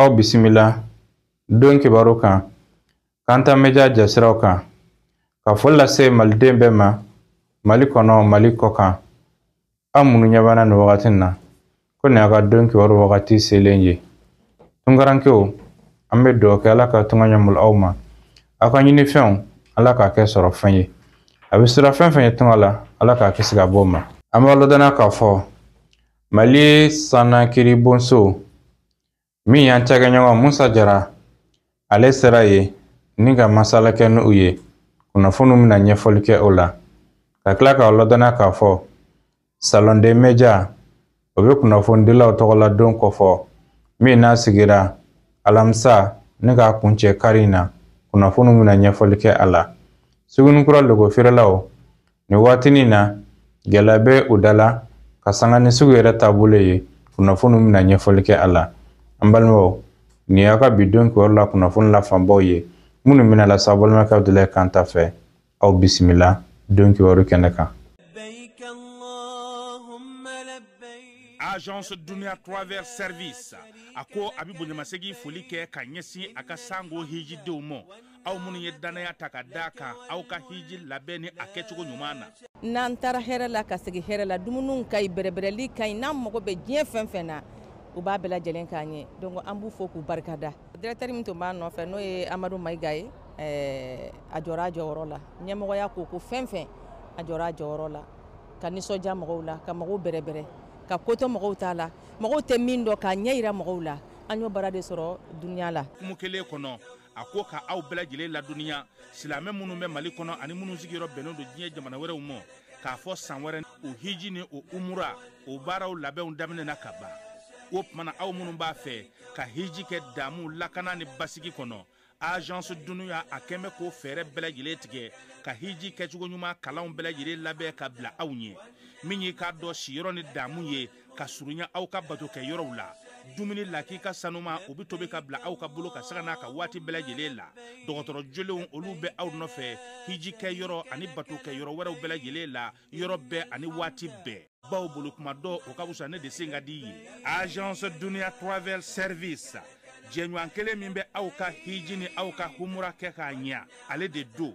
aw bisimila don kibaru kan kanta média jasiraw kan ka foli lase maliden bɛɛ ma mali kɔnɔ mali kɔ kan aw minnu ɲɛ b'an na nin wagati na ko nin y'a ka don kibaru wagati selen ye tungarankew an bɛ dugawu kɛ ala ka tunga ɲɛmulu aw ma aw ka ɲinifɛnw ala k'a kɛ sɔrɔ fɛn ye a bɛ siran fɛn fɛn ɲɛ tunga la ala k'a kisi ka bɔ o ma an b'a ladɔnniya k'a fɔ mali sannakiribonso min y'an cakɛɲɔgɔn musa jara ale sera yen ni ka masala kɛ n'u ye kunnafoniw bɛna ɲɛfɔli kɛ o la ka tila k'aw ladɔnniya k'a fɔ salon des médias o bɛ kunnafonidilaw tɔgɔladon kɔfɔ min n'a sigira alamisa ni k'a kuncɛ kari in na kunnafoniw bɛna ɲɛfɔli kɛ a la sugunikura lɔgɔ feerelaw nin waatinin na gɛlɛya bɛ u da la ka sanga ni sugu yɛrɛ taabolo ye kunnafoni bɛna ɲɛfɔli kɛ a la an balimaw nin y'a ka bi don kibaru la kunnafoni la fanbaw ye minnu bɛna las'a balimakɛ abudulayi kanta fɛ aw bisimila don kibaru kɛnɛ kan agence dunia travel service a ko a bɛ bonyamasegin foli kɛ ka ɲɛsin a ka sango hijidenw ma aw minnu ye dannaya ta ka da kan aw ka hiji labɛn ni a kɛcogo ɲuman na n'an taara hɛrɛ la ka segin hɛrɛ la dumuniw ka ɲi bɛrɛbɛrɛli ka ɲi n'an mago bɛ diɲɛ fɛn fɛn na u b'a bɛɛ lajɛlen k'an ye donc an b'u fo k'u barika da directeur min tun b'a nɔfɛ n'o ye amadu mayiga ye eh, a jɔra a jɔyɔrɔ la ɲɛmɔgɔya ko ko fɛn fɛn a jɔra a jɔyɔrɔ la ka nisɔndiya mɔgɔw la ka mɔgɔw bɛrɛbɛrɛ ka koto mɔgɔw t'a la mɔgɔw tɛ min dɔn k'a ɲɛ yira mɔgɔw la an y'o baara de sɔrɔ duniya la kumu kelen kɔnɔ a ko ka aw bɛɛ lajɛlen ladɔnniya silamɛ minnu bɛ mali kɔnɔ ani minnu sigiyɔrɔ bɛnnen don diɲɛ jamana wɛrɛw ma k'a fɔ san wɛrɛ o hiji ni o umura o baaraw labɛnw daminɛna ka ban o tumana aw minnu b'a fɛ ka hiji kɛ damu lakana ni basigi kɔnɔ agence dunia a kɛn bɛ k'o fɛɛrɛ bɛɛ lajɛlen tigɛ ka hiji kɛcogo ɲuman kalanw bɛɛ lajɛlen labɛn ka bila aw ɲɛ min y'i k'a dɔn siyɔrɔ ni damu ye ka surunya aw ka bato kɛ yɔrɔw la dumuni lakika sanuman u bɛ tobi ka bila aw ka bolo kan sanga n'a ka waati bɛɛ lajɛlen la dɔgɔtɔrɔ jolenw olu bɛ aw nɔfɛ hiji kɛ yɔrɔ ani bato kɛ yɔrɔ wɛrɛw bɛɛ lajɛlen la yɔrɔ bɛɛ ani waati bɛɛ bawo boli kuma dɔn o ka wusa ne de sen ka di ye agence dunia travel service jɛɲɔgɔn kelen min bɛ aw ka hiji ni aw ka humura kɛ k'a ɲɛ ale de don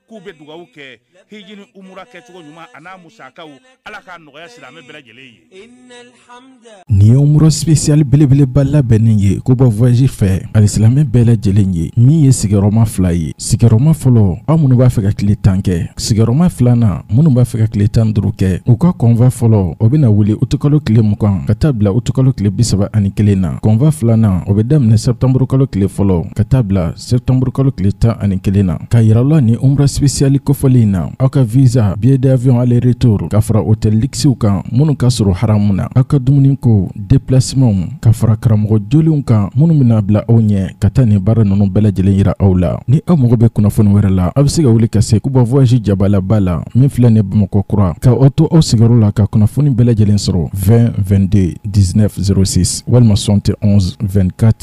k'u bɛ dugawu kɛ hiji ni umura kɛcogo ɲuman a n'a musakaw ala k'a nɔgɔya silamɛ bɛɛ lajɛlen ye nin ye umura sipesiyali belebeleba labɛnnen ye kuba voyaji fɛ alisilamɛ bɛɛ lajɛlen ye min ye sigiyɔrɔma fila ye sigiyɔrɔma fɔlɔ aw minnu b'a fɛ ka tile tan kɛ sigiyɔrɔma filanan minnu b'a fɛ ka tile tan duuru kɛ u ka convoi fɔlɔ o bɛna wuli utukalo tile mugan ka taa bila utukalo tile bisaba ani kelen na convoi filanan o bɛ daminɛ sɛptanburukalo tile fɔlɔ ka taa bila septembre kalo tile tan ani kelen na k'a yira aw la nin umra sipesiyali kofɔlen in na aw ka visa billet d'avion aller retour ka fara hôtel lukisiw kan minnu ka surun haramu na aw ka dumunikow deplasimanw ka fara karamɔgɔ jolenw kan minnu bɛna bila aw ɲɛ ka taa nin baara ninnu bɛɛ lajɛlen yira aw la ni aw mago bɛ kunnafoni wɛrɛ la aw bɛ se ka wuli ka se kuba voyage jabalaba la min filɛ nin bamakɔ kura ka aw to aw sigiyɔrɔ la ka kunnafoni bɛɛ lajɛlen sɔrɔ 20 22 19 06 walima 71 24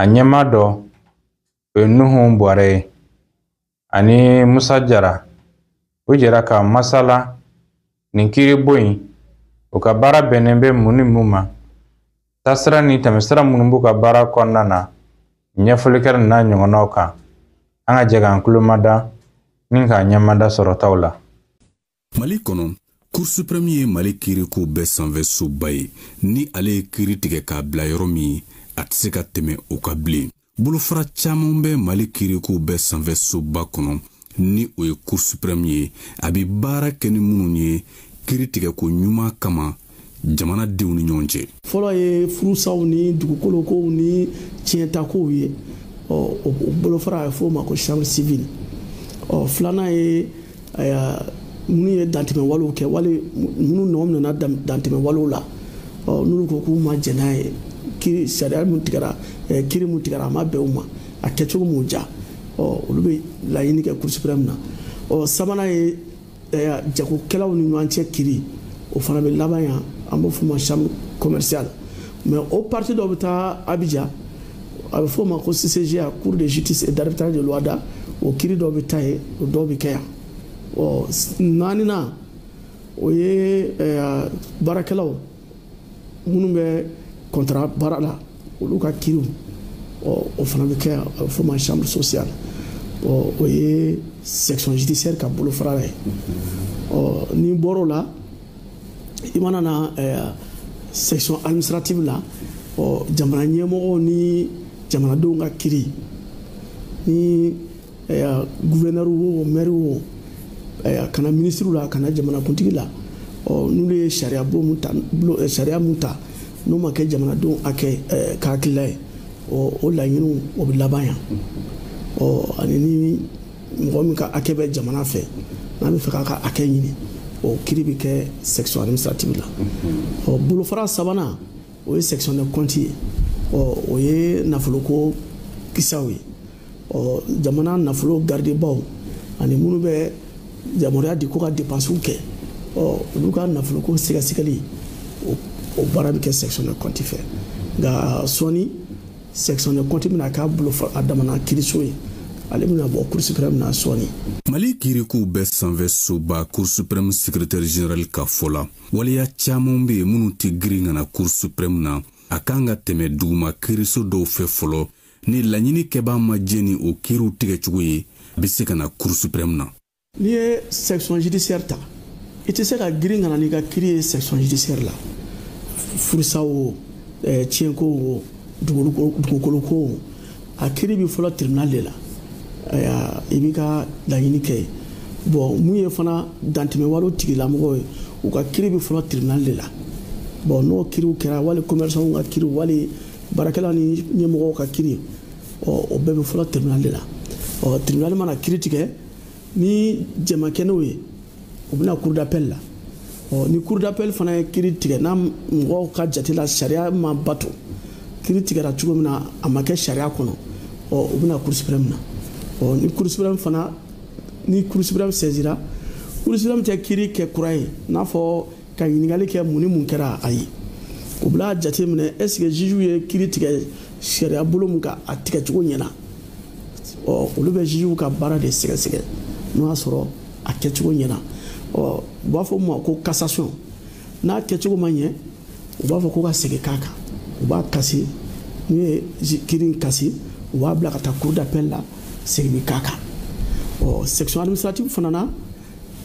a ɲɛmaa dɔ o ye nuhu bɔrɛ ye ani musa jara u jɛra ka masala nin kiiribon in u ka baara bɛnnen bɛ mun ni mun ma taasira ni tɛmɛsira minnu b'u ka baara kɔnɔna na ɲɛfɔli kɛra n'a ɲɔgɔnnaw kan an ka jɛ k'an tulomada ni k'a ɲɛmada sɔrɔtaw la mali kɔnɔ cour supreme ye mali kiiriko bɛɛ sanfɛ soba ye ni ale ye kiiri tigɛ k'a bila yɔrɔ min a tɛ se ka tɛmɛ o kan bilen bolofara caman bɛ mali kiiriko bɛɛ sanfɛ soba kɔnɔ ni o ye cour supreme ye a bɛ baara kɛ ni minnu ye kiiri tigɛko ɲuman kama jamanadenw ni ɲɔgɔn cɛ fɔlɔ ye furusaw ni dugukolokow ni tiɲɛtakow ye o bolofara a bɛ f'o ma ko chambre civile ɔ filanan ye minnu ye dantɛmɛ walew kɛ wali minnu nɔ minɛna dantɛmɛ walew la ɔ n'olu ko k'u ma jɛn n'a ye kiri sariya min tigɛra kiri min tigɛra a ma bɛn u ma a kɛcogo m'u diya ɔ olu bɛ laɲini kɛ cour suprême na ɔ sabanan ye jagokɛlaw ni ɲɔgɔn cɛ kiri o fana bɛ laban yan an b'o f'o ma chambre commerciale mais o partie dɔ bɛ taa Abidjan a bɛ f'o ma ko CCJA cour de justice et d'arbitrage de l'OHADA o kiri dɔw bɛ taa yen o dɔw bɛ kɛ yan ɔ naaninan o ye baarakɛlaw minnu bɛ kɔntara baara la olu ka kiriw o fana bɛ kɛ yan a bɛ f'o ma chambre sociale o ye section judiciaire ka bolofara ye n'i bɔr'o la i mana na section administrative la jamana ɲɛmɔgɔw ni jamanadenw ka kiri ni gufɛnɛri wo mɛri wo a ka na minisiriw la a ka na jamanakuntigi la n'olu ye sariya bon mun ta sariya mun ta n'o ma kɛ jamanadenw hakɛ ka hakilila ye o laɲiniw o bɛ laban yan ani ni mɔgɔ min ka hakɛ bɛ jamana fɛ n'a b'a fɛ k'a ka hakɛ ɲini o kiri bɛ kɛ section administrative la ɔ bolofara sabanan o ye section de compte ye ɔ o ye nafoloko kisaw ye ɔ jamana nafolo garidibaw ani minnu bɛ yamaruya di ko ka depansiw kɛ ɔ olu ka nafoloko sɛgɛsɛgɛli o baara bɛ kɛ section de compte fɛ nka sɔɔni section de compte bɛna k'a bolo a damana kiriso ye ale bɛna bɔ cour suprême na sɔɔni mali kirikow bɛɛ sanfɛ soba cour suprême secrétaire général ka fɔ la waleya caman bɛ yen minnu tɛ girin ka na cour suprême na a kan ka tɛmɛ duguma kiriso dɔw fɛ fɔlɔ ni laɲini kɛbaa ma jɛn ni o kiiriw tigɛcogo ye a bɛ se ka na cour suprême na n'i ye section judiciaire ta i tɛ se ka girin ka na n'i ka kiri ye section judiciaire la furusa o eh, tiɲɛko o dugukolo ko o a kiri bɛ fɔlɔ tribunal de la i b'i ka laɲini kɛ yen bon mun ye fana dantɛmɛwalew tigilamɔgɔw ye u ka kiri bɛ fɔlɔ tribunal de la bon n'o kiriw kɛra wali commerçantw ka kiriw wali baarakɛla ni ɲɛmɔgɔw ka kiri ɔ o bɛɛ bɛ fɔlɔ tribunal de la ɔ tribunal mana kiri tigɛ ni jɛn ma kɛ n'o ye u bɛ na cour d'appel la ɔ ni cour d'appel fana ye kiri tigɛ n'a mɔgɔw ka jate la sariya ma bato kiri tigɛra cogo min na a ma kɛ sariya kɔnɔ ɔ u bɛ na cour suprême na ɔ ni cour suprême fana ni cour suprême saisira cour suprême tɛ kiri kɛ kura ye n'a fɔ ka ɲininkali kɛ mun ni mun kɛra ayi u bɛna jate minɛ ɛsike zijuw ye kiri tigɛ sariya bolo min kan a tigɛcogo ɲɛna ɔ olu bɛ zijuw ka baara de sɛgɛsɛgɛ n'o y'a sɔrɔ a kɛcogo ɲɛna ɔ u b'a fɔ min ma ko cassation n'a kɛcogo ma ɲɛ u b'a fɔ ko ka segin k'a kan u b'a kasi n'u ye kiri in kasi u b'a bila ka taa cour d'appel la seginni k'a kan ɔ section administrative fana na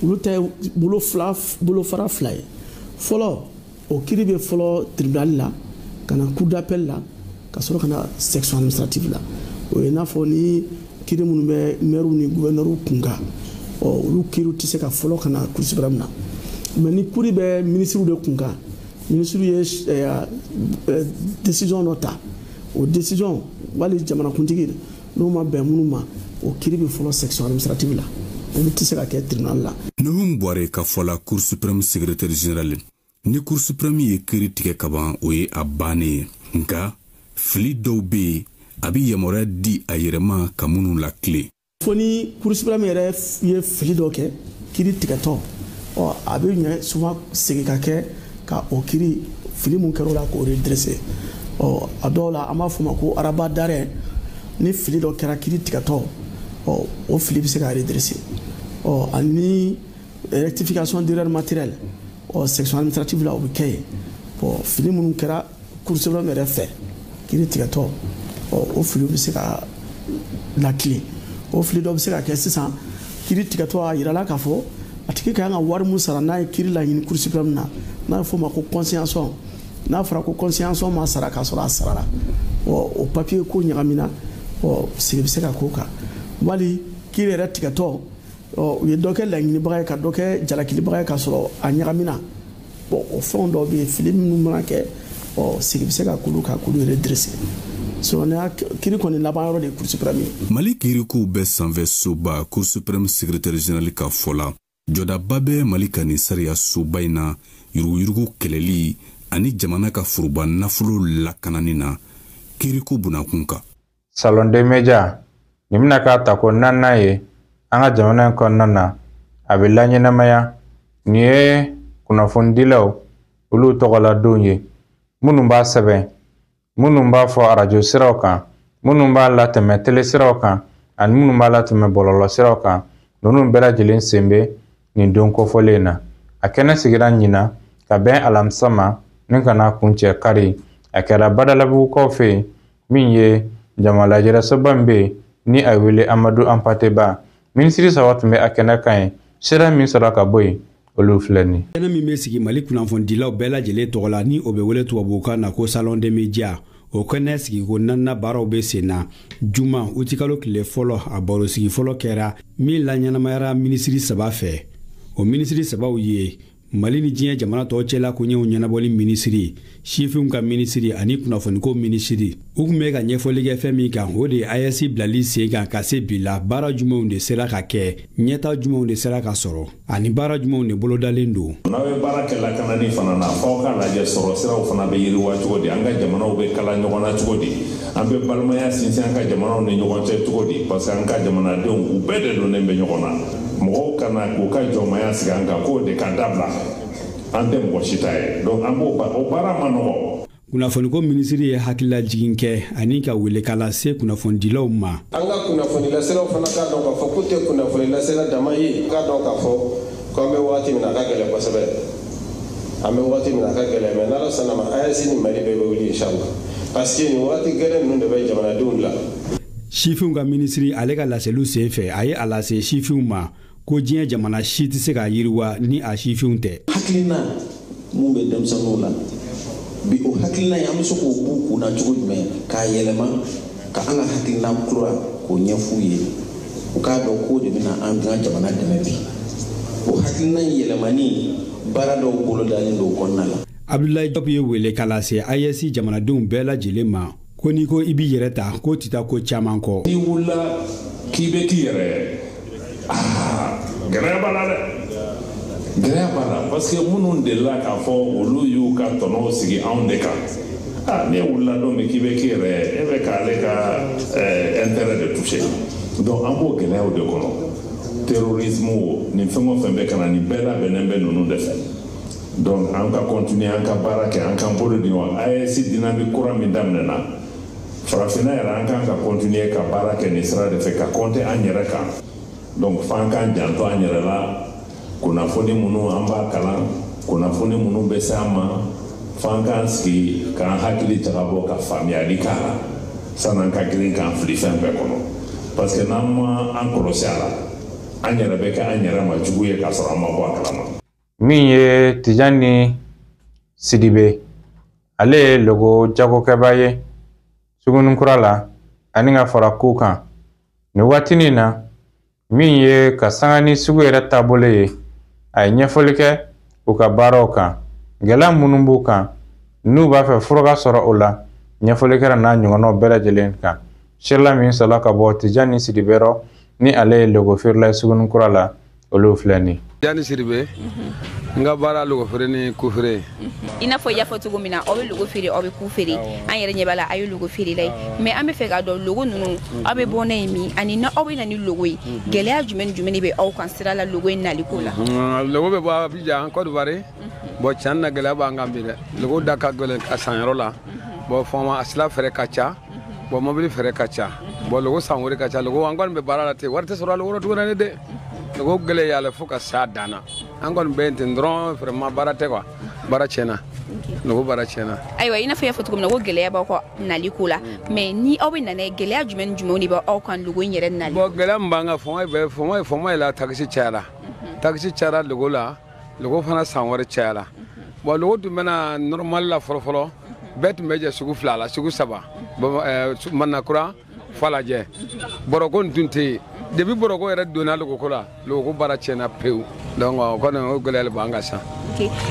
olu ta ye bolo fila bolofara fila ye fɔlɔ o kiri bɛ fɔlɔ tribunal la ka na cour d'appel la ka sɔrɔ ka na section administrative la o ye n'a fɔ ni kiri minnu bɛ mɛriw ni gufɛnɛriw kun kan ɔ olu kiriw tɛ se ka fɔlɔ ka na cour suprême na mais ni kiri bɛ minisiriw de kun kan minisiriw ye eh, eh, décision dɔ ta o décision wali jamanakuntigi n'o ma bɛn minnu ma o kiri bɛ fɔlɔ section administrative la olu tɛ se ka kɛ tribunal la nuhum buware ka fɔ la cour supreme secrétaire général ni cour supreme ye kiri tigɛ ka ban o ye a bannen ye nka fili dɔw bɛ yen a bɛ yamaruya di a yɛrɛ ma ka minnu latilen fo ni cour supreme yɛrɛ ye fili dɔ kɛ kiri tigɛtɔ ɔ a bɛ ɲɛ souvent segin ka kɛ ka o kiri fili mun kɛra o la k'o redresser ɔ a dɔw la an b'a f'o ma ko rabat d'arrêt ni fili dɔ kɛra kiri tigɛtɔ ɔ o fili bɛ se ka redresser ɔ ani rectification d'erreur matérielle ɔ section administrative la o bɛ kɛ yen bɔn fili minnu kɛra cour supreme yɛrɛ fɛ kiri tigɛtɔ o filiw bɛ se ka latilen o fili dɔ bɛ se ka kɛ sisan kiri tigɛtɔ a yirala k'a fɔ a tigi ka kan ka wari min sara n'a ye kiri laɲini cour supreme na n'a bɛ f'o ma ko consignation n'a fɔra ko consignation ma sara k'a sɔrɔ a sarala o papiye ko ɲagamina ɔ sigi bɛ se ka k'o kan wali kiri yɛrɛ tigɛtɔ u ye dɔ kɛ laɲinibaga ye ka dɔ kɛ jalakilibaga ye k'a sɔrɔ a ɲagamina bɔn o fɛnw dɔ bɛ yen fili minnu mana kɛ ɔ sigi bɛ se ka k'olu kan k'olu redresser sinon kiri kɔni laban yɔrɔ de ye cour supreme ye mali kirikow bɛɛ sanfɛ soba cour supreme secrétaire général ka fɔ la jɔdaba bɛ mali ka nin sariya soba in na yuruguyurugu kɛlɛli ani jamana ka foroba nafolo lakanani na kiriko bunakun kan salon des médias nin bɛna k'a tako naaninan ye an ka jamana in kɔnɔna na a bɛ laɲɛnamaya nin ye kunnafonidilaw olu tɔgɔladonw ye minnu b'a sɛbɛn minnu b'a fɔ arajo siraw kan minnu b'a latɛmɛ tele siraw kan ani minnu b'a latɛmɛ bɔlɔlɔ siraw kan ninnu bɛɛ lajɛlen sen bɛ nin don kofɔlen in na a kɛnɛ sigira ɲinan ka bɛn alamisa ma ni ka n'a kuncɛ kari a kɛra badalabugukaw fɛ yen min ye jamalajɛrɛsoba min bɛ yen ni a wele amadu anpate ba minisiri saba tun bɛ a kɛnɛ kan ye sira min sɔrɔ ka bɔ yen olu filɛ nin kɛnɛ min bɛ sigi mali kunnafonidilaw bɛɛ lajɛlen tɔgɔ la ni o bɛ wele tubabukan na ko salon des médias o kɛnɛ sigiko naaninan baaraw bɛ sen na juma utikalo tile fɔlɔ a barosigi fɔlɔ kɛra min laɲɛnamayara minisiri saba fɛ o minisiri sabaw ye mali ni diɲɛ jamana tɔw cɛla koɲɛw ɲɛnabɔli minisiri sifinw ka minisiri ani kunnafoniko minisiri u tun bɛ ka ɲɛfɔli kɛ fɛn min kan o de ye ayɛsi bilali sen kan ka se bi la baara jumɛnw de sera ka kɛ ɲɛta jumɛnw de sera ka sɔrɔ ani baara jumɛnw de bolodalen don n'aw ye baara kɛ lakanani fana na f'aw ka lajɛ sɔrɔ siraw fana bɛ yiriwa cogo di an ka jamanaw bɛ kala ɲɔgɔn na cogo di an bɛ balimaya sinsin an ka jamanaw ni ɲɔgɔn cɛ cogo di parce que an ka jamanadenw u bɛɛ de donnen bɛ ɲɔgɔn na mɔgɔw kana k'u ka jɔnmaya sigi an kan k'o de ka dabila an tɛ mɔgɔ si ta ye donc an b'o o baara man nɔgɔ kunnafoniko minisiri ye hakililajigin kɛ ani ka welekan lase kunnafonidilaw ma an ka kunnafonilaselaw fana k'a dɔn k'a fɔ k'u tɛ kunnafonilasela dama ye k'a dɔn k'a fɔ ko an bɛ wagati min na a ka gɛlɛn kosɛbɛ an bɛ waati min na a ka gɛlɛn mais n'ala sɔnn'a ma AES ni mali bɛɛ bɛ wuli inshallah parce que nin waati gɛlɛn ninnu de bɛ jamanadenw la sifinw ka minisiri ale ka laseliw sen fɛ a ye a lase sifinw ma ko diɲɛ jamana si tɛ se ka yiriwa ni a sifinw tɛ hakilina mun bɛ denmisɛnninw la bi o hakilina in an bɛ se k'o b'u kun na cogo jumɛn k'a yɛlɛma ka an ka hakilina kura k'o ɲɛf'u ye u k'a dɔn k'o de bɛna an ka jamana dɛmɛ bi o hakilina yɛlɛmani baara dɔw bolodalen don o kɔnɔna la abdulayi jɔp ye welekan lase AES jamanadenw bɛɛ lajɛlen ma ko n'i ko i b'i yɛrɛ ta k'o tɛ taa ko caman kɔ n'i wulila k'i bɛ k'i yɛrɛ gɛlɛya b'a la dɛ gɛlɛya b'a la parce que minnu delila k'a fɔ olu y'u ka tɔnɔw sigi anw de kan ah, n'e wulila don min k'i bɛ k'i yɛrɛ e bɛ k'ale ka eh, intérêt de toucher donc an b'o gɛlɛyaw de kɔnɔ terrorisme o nin fɛn o fɛn bɛ ka na nin bɛɛ labɛnnen bɛ ninnu de fɛ donc an ka continuer an ka baara kɛ an k'an bolo di ɲɔgɔn AES dynamique kura min daminɛna farafinna yɛrɛ an kan ka continuer ka baara kɛ nin sira de fɛ ka compter an yɛrɛ kan donc f'an k'an janto an yɛrɛ la kunnafoni minnu an b'a kalan kunnafoni minnu bɛ se an ma f'an k'an sigi k'an hakili jagabɔ ka faamuyali k'a la san'an ka girin k'an fili fɛn bɛɛ kɔnɔ parce que n'an ma an kɔlɔsi a la an yɛrɛ bɛ kɛ an yɛrɛ ma jugu ye k'a sɔrɔ an ma bɔ a kalama min ye Tijani Sidibe ale ye logo jagokɛbaa ye Suguninkura la ani ka fara ku kan nin waatinin in na min ye ka sanga ni sugu yɛrɛ taabolo ye a ye ɲɛfɔli kɛ u ka baaraw kan gɛlɛya minnu b'u kan n'u b'a fɛ fura ka sɔrɔ o la ɲɛfɔli kɛra n'a ɲɔgɔnnaw bɛɛ lajɛlen kan sirila min sɔrɔla ka bɔ tijani sidibe yɔrɔ ni ale ye logofeerela ye suguninkura la olu filɛ nin tijani sidibe mhm. n ka baara logofeere ni kufeere i n'a fɔ i y'a fɔ cogo min na aw bɛ logo feere aw bɛ ku feere an yɛrɛ ɲɛ b'a la a ye logo feerela ye mais an bɛ fɛ k'a dɔn logo ninnu mhm. aw bɛ bɔ n'a ye min ani n'aw bɛ na ni logo ye mhm. gɛlɛya jumɛn ni jumɛn de bɛ aw kan sira la logo in nali ko la logo bɛ bɔ abijan kɔdiwari bon tiɲɛ na gɛlɛya b'an kan bi dɛ logo da ka gɛlɛn a sanyɔrɔ la bon fɔma a sira frais ka ca bɔn mobili frais ka ca bɔn logo san wari ka ca logo an kɔni bɛ baara la ten wari tɛ sɔrɔ a logo rɔ tuguni ne dɛ logo gɛlɛyala fo ka s'a dan na an kɔni bɛ yen ten dɔrɔn vraiment baara tɛ quoi baara tiɲɛna logo baara tiɲɛna ayiwa i n'a fɔ i y'a fɔ cogo min na ko gɛlɛya b'aw ka nali ko la mm. mais ni aw bɛ na n'a ye gɛlɛya jumɛn ni jumɛnw de bɛ aw kan logo in yɛrɛ nali bɔn gɛlɛya min b'an kan fɔmɔ ye fɔmɔ ye la takisi cayara mm-hmm. takisi cayara logo la logo fana san wari cayala bon logo tun bɛna normal la fɔlɔfɔlɔ bɛɛ tun bɛ jɛ sugu fila la sugu saba eh, manakura falajɛ bɔrɔko nin tun tɛ yen depuis bɔrɔko yɛrɛ donna logoko la logoko baara tiɲɛna pewu donc o kɔni o gɛlɛya le b'an kan sisan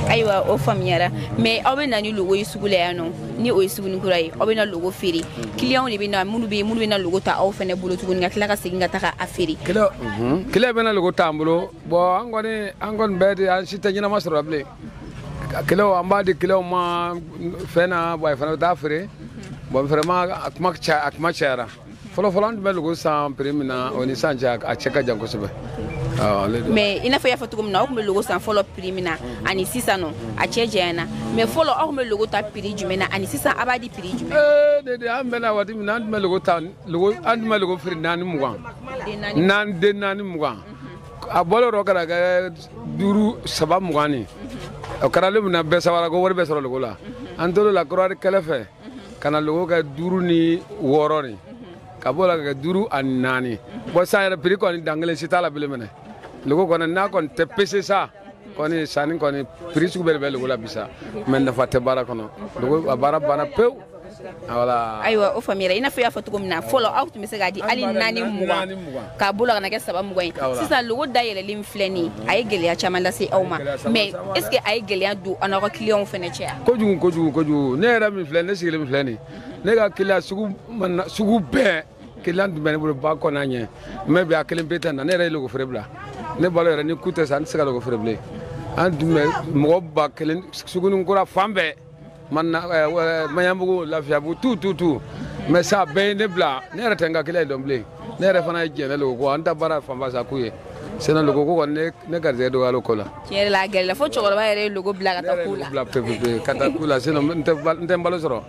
ayiwa o faamuyara mais aw bɛ na ni logo ye sugu la yan nɔ ni o ye suguni kura ye aw bɛ na logo feere kiliyanw de bɛ na minnu bɛ minnu bɛ na logo ta aw fɛnɛ bolo tuguni ka tila ka segin ka taga a feere kiliyan bɛ na logo t'an bolo bɔn an kɔni an kɔni bɛɛ de an si tɛ ɲɛnama sɔrɔ bilen kiliyanw an b'a di kiliyanw ma fɛn na bɔn fana bɛ taa feere bɔn vraiment a kuma a kuma cayara fɔlɔ fɔlɔ an tun bɛ logo san prix min na o ni sisan cɛ a cɛ ka jan kosɛbɛ mais i n'a fɔ i y'a fɔ cogo min na aw tun bɛ logo san fɔlɔ prix min na ani sisan nɔ a cɛ janyana mais fɔlɔ aw tun bɛ logo ta prix jumɛn na ani sisan aw b'a di prix jumɛn ee de de an bɛ na waati min na an tun bɛ logo ta logo an tun bɛ logo feere naani mugan naani den naani mugan a bɔlen dɔ kɛra kɛ duuru saba mugan ni o kɛra le min na bɛɛ sɛwara ko wari bɛ sɔrɔ logo la an tor'o la kɔdiwari kɛlɛ fɛ ka na logo kɛ duuru ni wɔɔrɔ ni ka bɔ la ka kɛ duuru ani naani bɔn san yɛrɛ prix kɔni dan kelen si t'a la bilen maintenant logo kɔni n'a kɔni tɛ pese sa kɔni sanni kɔni prix sugu bɛɛ de bɛ logo la bi sa mais nafa tɛ baara kɔnɔ logo a baara banna pewu voilà ayiwa o faamuyara i n'a fɔ i y'a fɔ cogo min na fɔlɔ aw tun bɛ se k'a di hali naani mugan ka bɔ o la ka na kɛ saba mugan ye sisan logo dayɛlɛlen min filɛ nin a ye gɛlɛya caman lase aw ma mais est ce que a ye gɛlɛya don aw n'aw ka kiliyanw fɛnɛ cɛ yan kojugu kojugu kojugu ne yɛrɛ min filɛ ne sigilen min filɛ nin ne ka kiliyan sugu bɛɛ kiliyan tun bɛ ne bolo ba kɔnɔ an ɲɛ mais bi a kelen pe tɛ na ne yɛrɛ ye logo feere bila ne balo yɛrɛ ni ku tɛ sa an tɛ se ka logo feere bilen an tun bɛ mɔgɔ ba kelen sugunin kura fan bɛɛ maɲabugu lafiyabugu tout tout tout mais sa bɛɛ ye ne bila ne yɛrɛ tɛ n ka kiliyan dɔn bilen ne yɛrɛ fana jɛnna logo kɔ an ta baara fanba sa ku ye sinon logo ko kɔni ne garijɛgɛ dɔgɔyala o ko la tiɲɛ yɛrɛ la a gɛlɛyala fo cɛkɔrɔba yɛrɛ ye logo bila ka taa ku la bila pepepe ka taa ku la sinon n tɛ n balo sɔrɔ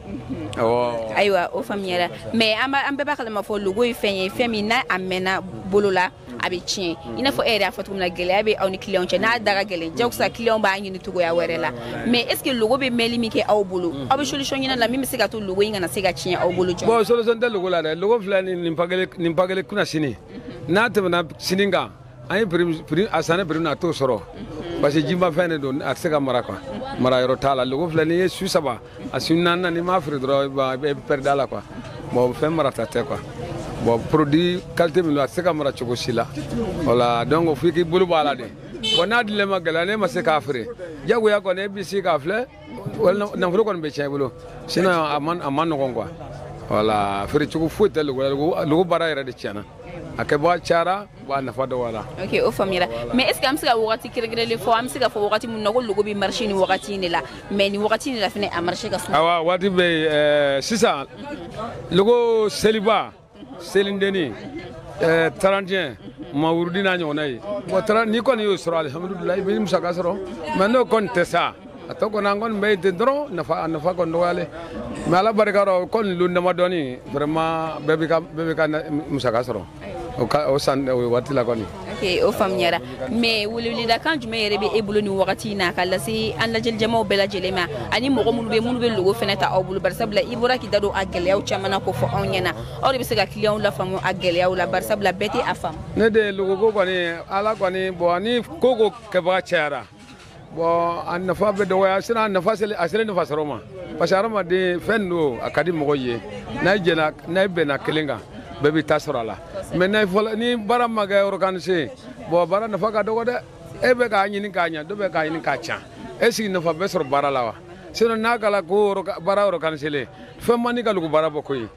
awɔ ayiwa o faamuyara mais an bɛɛ b'a kalama fɔ logo ye fɛn ye fɛn min n'a a mɛnna bolo la a bɛ tiɲɛ i n'a fɔ e yɛrɛ y'a fɔ cogo min na gɛlɛya bɛ aw ni kiliyanw cɛ n'a da ka gɛlɛn jagosa kiliyanw b'a ɲini cogoya wɛrɛ la mais est ce que logo bɛ mɛnli min kɛ aw bolo aw bɛ solution ɲini a la min bɛ se ka to logo in kana se ka tiɲɛ aw bolo joona bon solution tɛ logo la dɛ logo filɛ nin nin pakelen nin pakelen kunasini n'a tɛmɛna sini kan an ye prix a sanni prix na a t'o sɔrɔ parce que jimafɛn de don a tɛ se ka mara quoi mara yɔrɔ t'a la logo filɛ n'i ye su saba a su naaninan n'i m'a feere dɔrɔn i bɛ perdre a la quoi bon fɛn marata tɛ quoi bon produit qualité min don a tɛ se ka mara cogo si la voilà donc f'i k'i bolo bɔ a la de bon n'a dilen ma gɛlɛya n'e ma se k'a feere diyagoya kɔni e b'i sigi k'a filɛ nafolo kɔni bɛ tiɲɛ i bolo sinon a man a man nɔgɔn quoi voilà feere cogo foyi tɛ logo la logo baara yɛrɛ de tiɲɛna a kɛbaa cayara wa a nafa dɔgɔyala ok o faamuyara mais est ce que an bɛ se ka wagati kɛrɛnkɛrɛnlen fɔ an bɛ se ka fɔ wagati min na ko logo bɛ marché nin wagati in de la mais nin wagati in de la fana a marché ka suma awa waati bɛ yen sisan logo seliba selindeni eh, trente et un mawurudi n'a ɲɔgɔnna ye bon n'i kɔni y'o sɔrɔ alihamudulilayi i bɛ musaka sɔrɔ mais n'o kɔni tɛ sa a tɔ kɔni an kɔni bɛ yen ten dɔrɔn nafa a nafa kɔni dɔgɔyalen mais ala barika rɔ kɔni lon damadɔni vraiment bɛɛ bɛ ka musaka sɔrɔ o san o waati la kɔni ok o faamuyara mais weleweledakan jumɛn yɛrɛ bɛ e bolo nin wagati na ka lase an lajɛlijamaw bɛɛ lajɛlen ma ani mɔgɔ minnu bɛ minnu bɛ logo fɛnɛ ta aw bolo barisabula i bɔra k'i da don a gɛlɛyaw caman na k'o fɔ anw ɲɛna aw de bɛ se ka kiliyanw lafaamu a gɛlɛyaw la barisabula bɛɛ tɛ a faamu ne de logoko kɔni ala kɔni bon ni ko ko kɛbaga cayara bon a nafa bɛ dɔgɔya sinon a nafa a selen nafa sɔrɔ ma parce que hadamaden fɛn don a ka di mɔgɔ ye n'a ye jɛna n'a ye bɛnna kelen kan bɛɛ b'i ta sɔrɔ a la mais n'a fɔra ni baara ma kɛ organiser bon baara nafa ka dɔgɔ dɛ e bɛ k'a ɲini k'a ɲɛ dɔ bɛ k'a ɲini k'a can e sigi nafa bɛ sɔrɔ baara la wa sinon n'a kɛla ko baara organiserlen fɛn man di ka logo baara bɔ koyi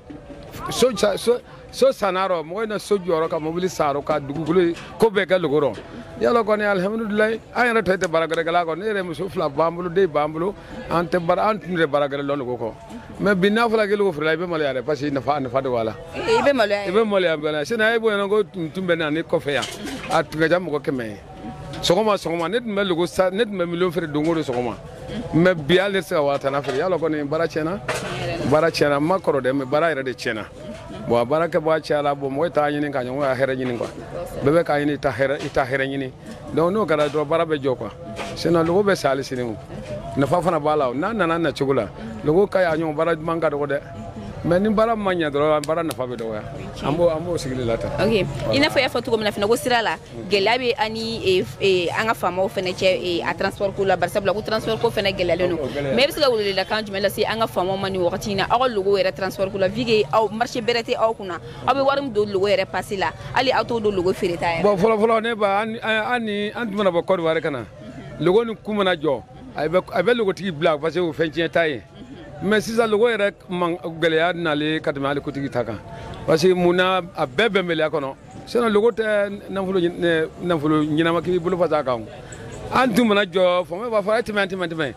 so so so san a rɔ mɔgɔ in na so jɔ a rɔ ka mobili san a rɔ ka dugukolo ko bɛɛ kɛ logo rɔ yala kɔni alihamudulilayi an yɛrɛ tun tɛ baara gɛrɛ kɛla kɔ ne yɛrɛ muso fila b'an bolo den b'an bolo an tɛ baara an tun tɛ baara gɛrɛ lɔn logo kɔ mais bi n'a fɔra k'i logo feerela i bɛ maloya dɛ parce que nafa nafa de b'a la i bɛ maloya i bɛ maloya bɛɛ la sinon bon mɔgɔ tun tun bɛ na ne kɔfɛ yan a tun ka ca mɔgɔ kɛmɛ ye sɔgɔma sɔgɔma ne tun bɛ logo san ne tun bɛ miliyɔn feere don o don sɔgɔma mais bi hali ne tɛ se ka waa tan na feere yala kɔni baara tiɲɛna baara tiɲɛna n ma kɔrɔ dɛ mais baara yɛrɛ de tiɲɛna bon a baara kɛbaa cayala bon mɔgɔ t'a ɲini ka ɲɔgɔn ka hɛrɛ ɲini quoi bɛɛ bɛ k'a ɲini i ta hɛrɛ i ta hɛrɛ ɲini donc n'o kɛra dɔrɔn baara bɛ jɔ quoi sinon logo bɛ san hali sini o nafa fana b'a la n'a nana na cogo la logo ka ɲi a ɲɔgɔn baara duman ka dɔgɔ dɛ mais ni baara ma ɲɛ dɔrɔn baara nafa bɛ dɔgɔya an b'o an b'o sigili la tan ok i n'a fɔ i y'a fɔ cogo min na fana ko sira la gɛlɛya bɛ aw ni an ka faamaw fana cɛ a transport ko la barisabula ko transport ko fana gɛlɛyalen don mais e bɛ se ka weleweledakan jumɛn lase an ka faamaw ma nin wagati in na aw ka logo yɛrɛ transport ko la vu que aw marché bɛrɛ tɛ aw kunna aw bɛ wari min don logo yɛrɛ pasɛ la hali aw t'o don logo feereta yɛrɛ. bon fɔlɔfɔlɔ ne ba an ni an tun mana bɔ Côte d'Ivoire ka na logo ni ku mana jɔ a bɛ logotigi bila parce que o fɛn tiɲɛta ye mais sisan logo yɛrɛ gɛlɛya nalen ka tɛmɛ hali kutigi ta kan parce que mun na a bɛɛ bɛnbaliya kɔnɔ sinɔn logo tɛ nafolo nafolo ɲɛnama k'i bolo fa kan an tun mana jɔ faama b'a fɔ a ye tɛmɛ tɛmɛ tɛmɛ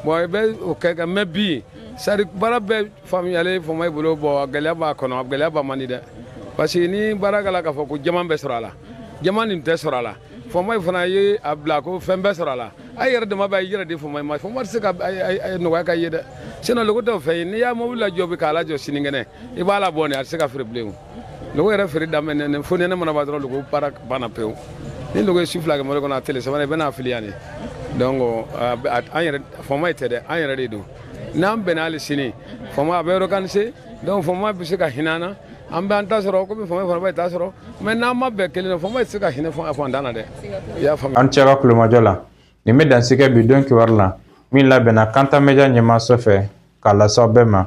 bɔn i bɛ o kɛ ka mɛ bi sari baara bɛɛ faamuyalen faama bolo bɔn gɛlɛya b'a kɔnɔ gɛlɛya b'a man di dɛ parce que ni baara kɛla k'a fɔ ko jama bɛ sɔrɔ a la jama nin tɛ sɔrɔ a la faama fana ye a bila ko fɛn bɛ sɔrɔ a la a yɛrɛ dama b'a yɛrɛ de faama ma faama tɛ se ka nɔgɔya ka ye dɛ sinɔn logo tɛ fɛn ye n'i y'a mobili lajɔ bi k'a lajɔ sinikɛnɛ i b'a labɔ nin a tɛ se ka feere bilen logo yɛrɛ feere daminɛ fo nɛnɛ mana ban dɔrɔn logo baara banna pewu ni logo ye su fila kɛ mobili kɔnɔ a tele sabanan i bɛna a fili yan de donc an yɛrɛ faama tɛ dɛ an yɛrɛ de don n'an bɛnna hali sini faama a bɛ organise donc faama bɛ se ka hinɛ an na an bɛ an ta sɔrɔ komi faama fana b'a ta sɔrɔ mɛ n'an ma bɛn kelen na faama tɛ se ka hinɛ faantan na dɛ i y'a faamuya aw ni ce aw ka tulomajɔ la nin bɛ dansigi bi don kibaru la min labɛnna kanta media ɲɛmaaso fɛ k'a lase aw bɛɛ ma